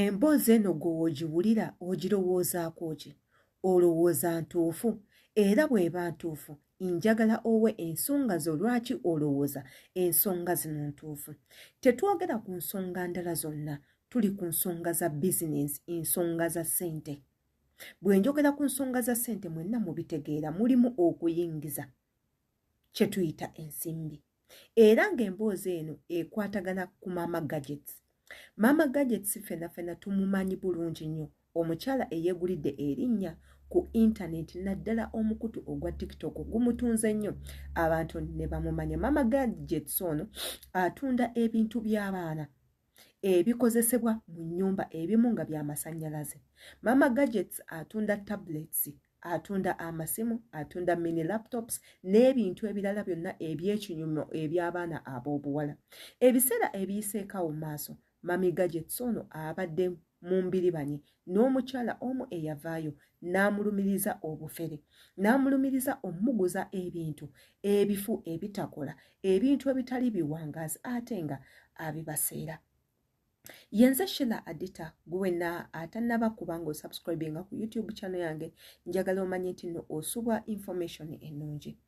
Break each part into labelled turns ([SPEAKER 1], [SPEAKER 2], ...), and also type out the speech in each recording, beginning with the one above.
[SPEAKER 1] emboozi eno gwe ogiwulira ogirowoozaako ki olowooza ntuufu era bw'eba ntuufu njagala owe ensonga zo lwaki olowooza ensonga zino ntuufu tetwogera ku nsonga ndala zonna tuli ku nsonga za bizinensi ensonga za ssente bwe njogera ku nsonga za ssente mwenna mubitegeera mulimu okuyingiza kye tuyita ensimbi era ng'emboozi eno ekwatagana ku maama gadgets maama gadgets fena fena tumumanyi bulungi nnyo omukyala eyegulidde erinnya ku intaneti naddala omukutu ogwa tiktok gumutunze nnyo abantu ne bamumanya maama gadgets ono atunda ebintu by'abaana ebikozesebwa mu nnyumba ebimu nga bya masannyalaze mama gadgets atunda tablets atunda amasimu atunda mini laptops n'ebintu ebirala byonna eby'ekinyumo eby'abaana ab'obuwala ebiseera ebiyiseekawo maaso mami gadgets ono abadde mu mbiribanye n'omukyala omu eyavaayo n'amulumiriza obufere n'amulumiriza omumuguza ebintu ebifu ebitakola ebintu ebitali biwangaazi ate nga abibaseera yenze shila adita gwena atanaba kubanga osubscribinga ku youtube channel yange njagala omanye nti no osubwa information enungi e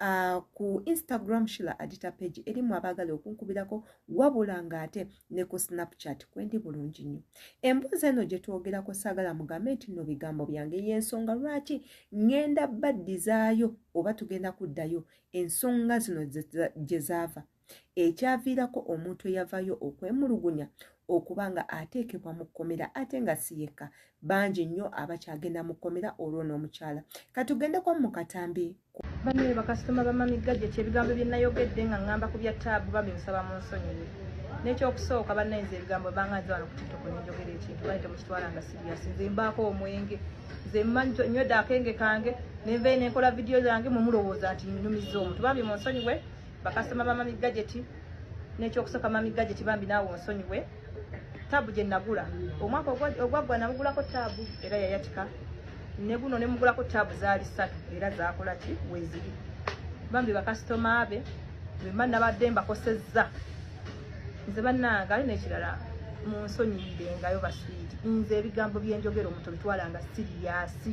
[SPEAKER 1] Uh, ku instagram shila adita page erimu abaagala okunkubirako wabula ng'ate ne ku snapchat kwendi bulungi nnyo emboozi eno gye twogerako saagala mugambe nti no bigambo byange y'ensonga lwaki ŋŋenda baddizaayo oba tugenda kuddayo ensonga zino gye zaava ekyaviirako omuntu eyavayo okwemulugunya okuba nga ateekebwa mu kkomera ate nga si yekka bangi nnyo abakyagenda mu kkomera olwo n'omukyala katugendeko mu katambi banaye bakasitoma
[SPEAKER 2] bamamigga gye kyebigambo bye nayogedde nga ŋŋamba ku bya taabu bambi musaba mu nsonyiwe n'ekyokusooka banaye nze ebigambo banga nze wano ku tiktok nenjogera ekintu bali temukitwala nga siriasi nze mbaako omwenge nze mmanyi nywedde akenge kange nenvayo nenkola vidiyo zange mumulowooza nti nnumiza omuntu bambi mu nsonyiwe bakasitoma ba mami gajeti n'ekyokusooka mami gajeti bambi naawe onsonyiwe taabu gye nagula omwaka ogwaggwa namugulako taabu era yayatika ne guno ne mugulako taabu zaali ssatu era zaakola ki weziri bambi bakasitoma be bemba nabadde mbakosezza nze bannange ali n'ekirala mu nsonyiyirengayo baswiiti nze ebigambo byenjogera omuntu bitwalanga siriyasi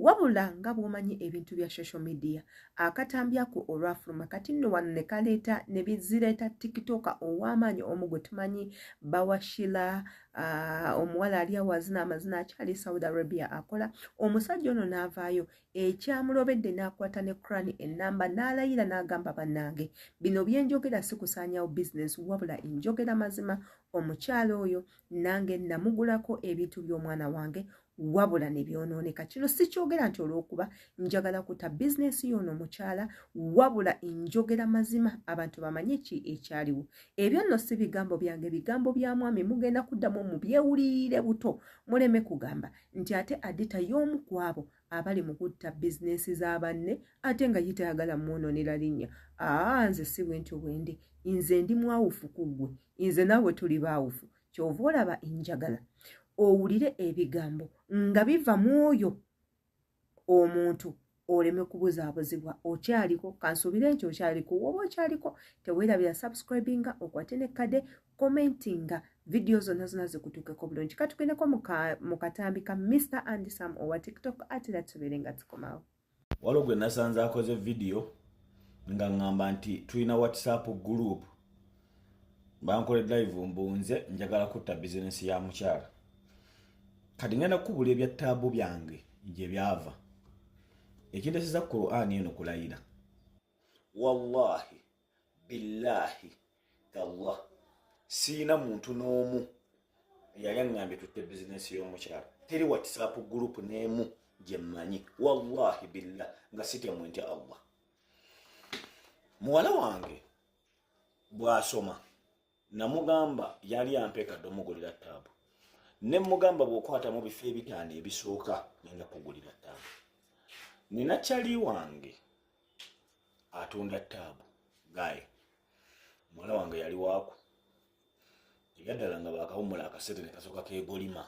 [SPEAKER 1] Wabula nga bw'omanyi ebintu bya social media akatambi ako olwafuluma kati nno wano ne kaleeta ne bizireeta tikitoka ow'amaanyi omu gwe tumanyi bawashila uh, omuwala ali awazina amazina akyali e saudi arabia akola omusajja ono n'avaayo ekyamulobedde n'akwata ne crani ennamba n'alayira n'agamba bannange bino bye njogera si kusaanyawo bizinesi wabula enjogera mazima omukyala oyo nange namugulako ebintu by'omwana wange wabula ne byonooneka kino sikyogera nti olw'okuba njagala kuta bizinensi yoono mukyala wabula njogera mazima abantu bamanye ki ekyaliwo ebyo nno si bigambo byange bigambo bya mwami mugenda kuddamu mu byewuliire buto muleme kugamba nti ate adita y'omu kwabo abali mu kutta bizinensi za banne ate nga ye tayagala mwonoonera linnya aa nze si bwentyo bwendi nze ndi mwawufu ku ggwe nze naawe tuli baawufu kyova olaba enjagala owulire ebigambo nga biva mu oyo omuntu oleme kubuzaabuzibwa okyaliko kansuubire nti okyaliko woba okyaliko teweerabira subscribinga okwate nekkade commentinga vidiyo zonna zonna zikutuukeko bulungi katugendeko mu katambi ka mr andisam owa tiktok ate era tubeere nga tukomawo waliwo gwe
[SPEAKER 3] nasanze akoze vidiyo nga ŋŋamba nti tulina whatsapp group bankole live mbunze njagala kutta bizinensi ya mukyala kati ngenda kukubula ebya taabu byange gye byava ekinteseza quran eno kulayira wallahi billahi tallah siina muntu n'omu yali aŋŋambye tutte bizinensi y'omukyalo teri whatsapp group n'emu gye mmanyi wallahi billah nga sitemu ntya allah muwala wange bw'asoma namugamba yali ampeka domugulira taabu ne mugamba bwokwata mu bifo ebitaano ebisooka nina kugulira taabu nina kyali wange atunda taabu gaye muwala wange yali waaku ebyaddala nga bakawumula akasente nekasooka kegolima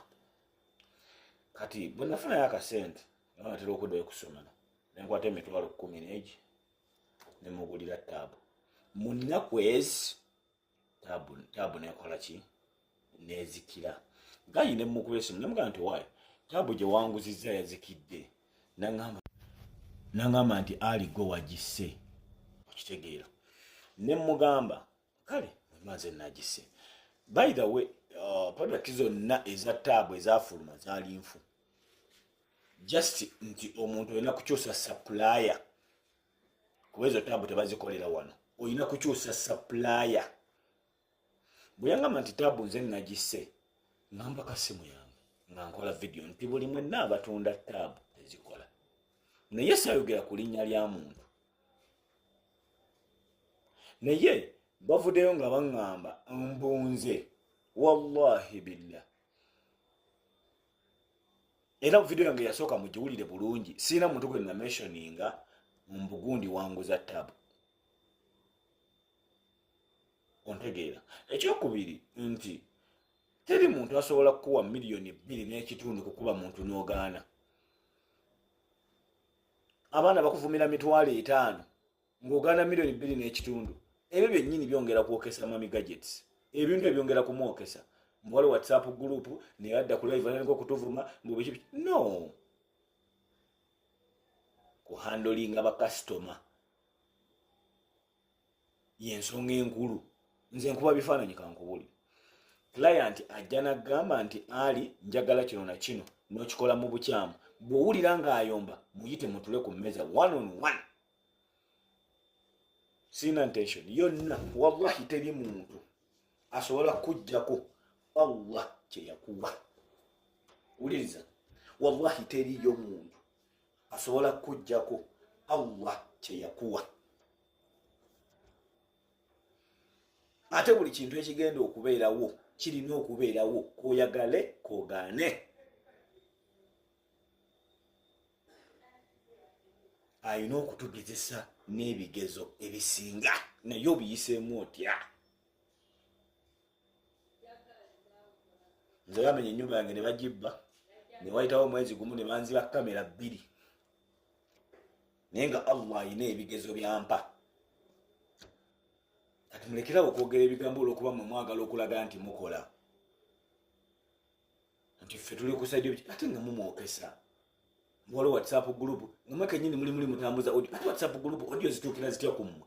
[SPEAKER 3] kati bwenafunayo akasente naatera okuddayo kusomero nenkwata emitwalo kumi negi nemugulira taabu mu nnaku ezi taabu nekola ki nezikira gayi nemukuba esimu nemugaa nti waayo taabu gye wanguzizza yazikidde nangamba nti ali gwe wagisse okitegeera nemugamba kale maze nagise by the way uh, product zonna eza taabu ezafuluma zaali nfu just nti omuntu olina kukyusa supplier kuba ezo taabu tebazikolera wano olina kukyusa supplier bweyangamba nti taabu nze nagise ngamba kasimu yange nga nkola vidiyo nti buli mwenna abatunda taabu ezikola naye sayogera ku linnya lya muntu naye bavudeyo nga baŋŋamba mbunze wallahi billah era video yange yasooka mugiwulire bulungi siina muntu gwe namentioninga mbugundi wanguza tabu ontegeera ekyokubiri nti teri muntu asobola kukuwa miliyoni bbiri n'ekitundu kukuba muntu n'ogaana abaana bakuvumira mitwalo etaano ng'ogaana miliyoni bbiri n'ekitundu ebyo byennyini byongera kwokesa mami gadgets ebintu ebyongera kumwokesa mbuwali whatsapp group naye adda kulaivananiko okutuvuma mbubiki no kuhandolinga bakasitoma yensonga enkulu nze nkuba bifaananyi kankubuli client ajja nagamba nti ali njagala kino na kino nokikola mu bukyamu bwowulira ngaayomba muyite mutule ku mmeeza one on one sirina intention yonna wallahi teri muntu asobola kujjako allah kyeyakuwa wuliriza wallahi teriyo muntu asobola kujjako allah kyeyakuwa ate buli kintu ekigenda okubeerawo kirina okubeerawo koyagale kogaane alina okutugezesa n'ebigezo ebisinga naye obiyiseemu otya nze bamenya enyumba yange nebagibba newayitawo omwezi gumu nebanziba kamera bbiri naye nga allah ayina ebigezo byampa kati mulekerawo okwogera ebigambo olwokuba mwe mwagala okulaga nti mukola nti ffe tuli kusajja ate nga mumwokesa waliwo whatsapp group nomwe kenyini muli muli mutambuza odio ate whatsapp group odio zituukira zitya kummwe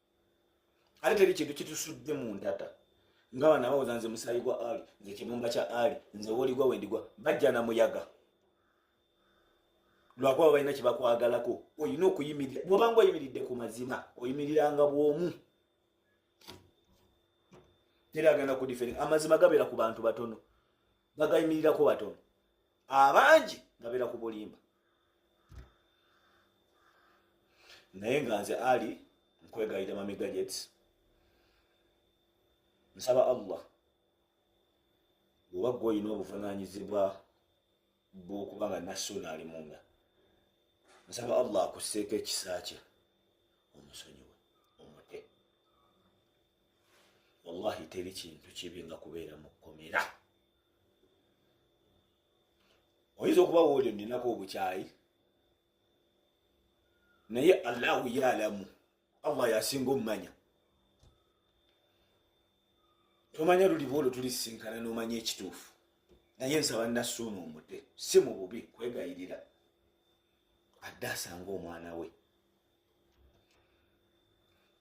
[SPEAKER 3] ate teri kintu kitusudde mu ndata nga bana bawoza nze musayi gwa ali nze kibumba kya ali nze woligwa wendigwa bajja na muyaga lwakuba balina kyebakwagalako olina okuyimirira bwobanga oyimiridde ku mazima oyimiriranga bwomu teri agenda kudiferi amazima gabeera ku bantu batono bagayimirirako batono abangi ngabeera ku bulimba naye nga nze ali nkwegayira mami gadgets nsaba allah bwoba gwe olina obuvunanyizibwa bwokuba nga nassuuna ali munda nsaba allah akusseeko ekisa kye omusonyiwe omute wallahi teri kintu kibi nga kubeera mu kkomera oyinza okuba wooli oninako obukyayi naye allahu yalamu allah yasinga omumanya tomanya luliba olwo tulisisinkana nomanya ekituufu naye nsaba nasuuna omude si mu bubi kwegayirira adde asanga omwana we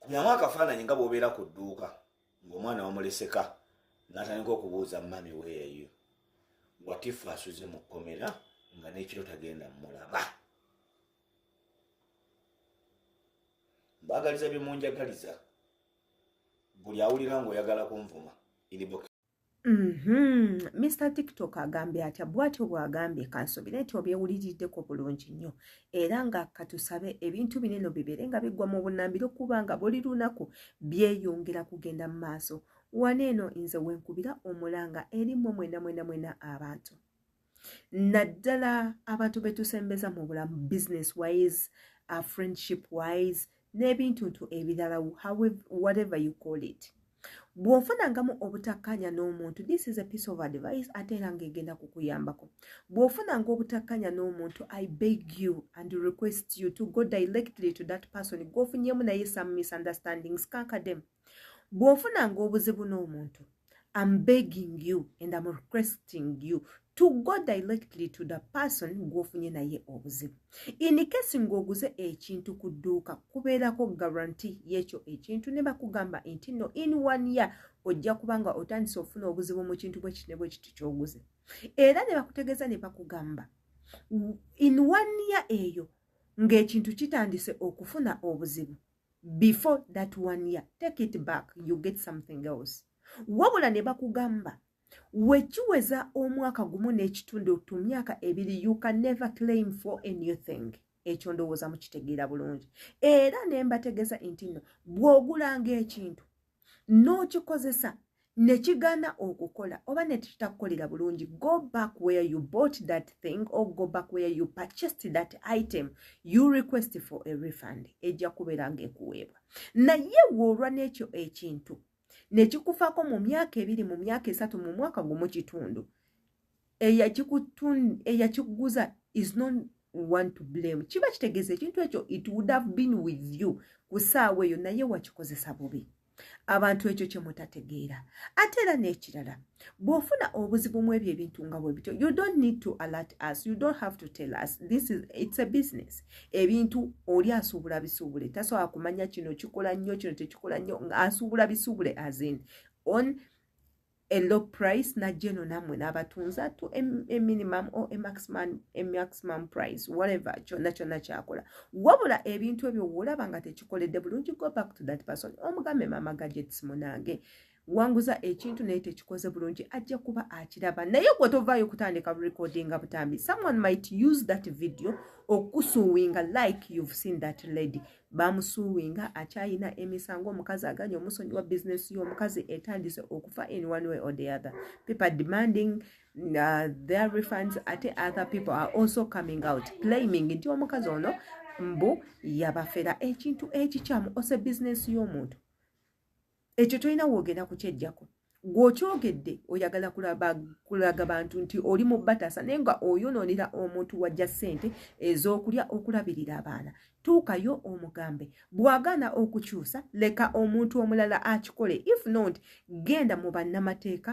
[SPEAKER 3] kubyamu akafaananyi nga bwobeera ku dduuka ng'omwana wamuleseka n'atandika okubuuza mami weeyo watifu asuze mu kkomera nga n'ekiro tagenda mulaba mbaagaliza bye munjagaliza buli awulira ng'oyagala kunvuma inbox Mm-hmm.
[SPEAKER 1] Mr TikTok agambye atya bwatyo bwagambye kansobira nti obyewuliriddeko bulungi nnyo era nga katusabe ebintu bineno bibeere nga biggwa mu bunambiro kuba nga buli lunaku byeyongera kugenda mu maaso wano eno nze wenkubira omulanga eri mwe mwena mwena mwena abantu naddala abantu betusembeza mu bulamu business wise uh, friendship wise n'ebintuntu ebirala whatever you call it bw'ofunangamu obutakkaanya n'omuntu this is a piece of advice ate era ng'egenda kukuyambako bw'ofunanga obutakkaanya n'omuntu i beg you and request you to go directly to that person gwofunyemu naye some misunderstandings kankademu bw'ofunanga obuzibu n'omuntu am begging you and am requesting you to go directly to the person gw'ofunye naye obuzibu in case ng'oguze ekintu ku dduuka kubeerako garanti y'ekyo ekintu ne bakugamba nti no in one year ojja kuba nga otandise ofuna obuzibu mu kintu bwe kiti ne bwe kiti ky'oguze era ne bakutegeeza ne bakugamba in one year eyo ng'ekintu kitandise okufuna obuzibu before that one year take it back you get something else wabula ne bakugamba wekiweza omwaka gumu n'ekitundu tu myaka ebiri you can never claim for a new thing ekyo ndowooza mukitegeera bulungi era ne mbategeza nti nno bw'ogulanga ekintu n'okikozesa ne kigaana okukola oba ne kitakukolera bulungi go back where you bought that thing or go back where you purchased that item you request for a refund ejja kubeera ng'ekuweebwa naye woolwa n'ekyo ekintu ne kikufaako mu myaka ebiri mu myaka esatu mu mwaka gumu kitundu eyakiguza is not one to blame kiba kitegeeza ekintu ekyo it would have been with you ku saawa eyo naye wakikozesa bubi abantu ekyo kyemutategeera ate era n'ekirala bw'ofuna obuzibu mu ebyo ebintu nga bwe bityo you don't need to alert us you don't have to tell us this is it's a business ebintu oli asuubula bisuubule tasobola kumanya kino kikola nnyo kino tekikola nnyo asuubula bisuubule azin on a low price najja eno nammwe n'abatunza to a, a minimum or a maximum, a maximum price whatever kyonna kyonna kyakola wabula ebintu ebyo woolaba nga tekikoledde bulungi go back to that person omugambe maama gadgets munange wanguza ekintu naye tekikoze bulungi ajja kuba akiraba naye gwe tovaayo kutandika recordinga butambi someone might use that video okusuwinga like you've seen that lady bamusuwinga akyayina emisango omukazi aganye omusonyi wa bizinesi y'omukazi etandise okufa in one way or the other people are demanding uh, their refunds ate other people are also coming out claiming nti omukazi ono mbu yabafera ekintu ekikyamu ose bizinesi y'omuntu ekyo tolina woogenda kukyejjako gweokyogedde oyagala kulaga bantu nti oli mu bataasa naye nga oyonoonera omuntu wajja ssente ez'okulya okulabirira abaana tuukayo omugambe bw'agaana okukyusa leka omuntu omulala akikole if not genda mu bannamateeka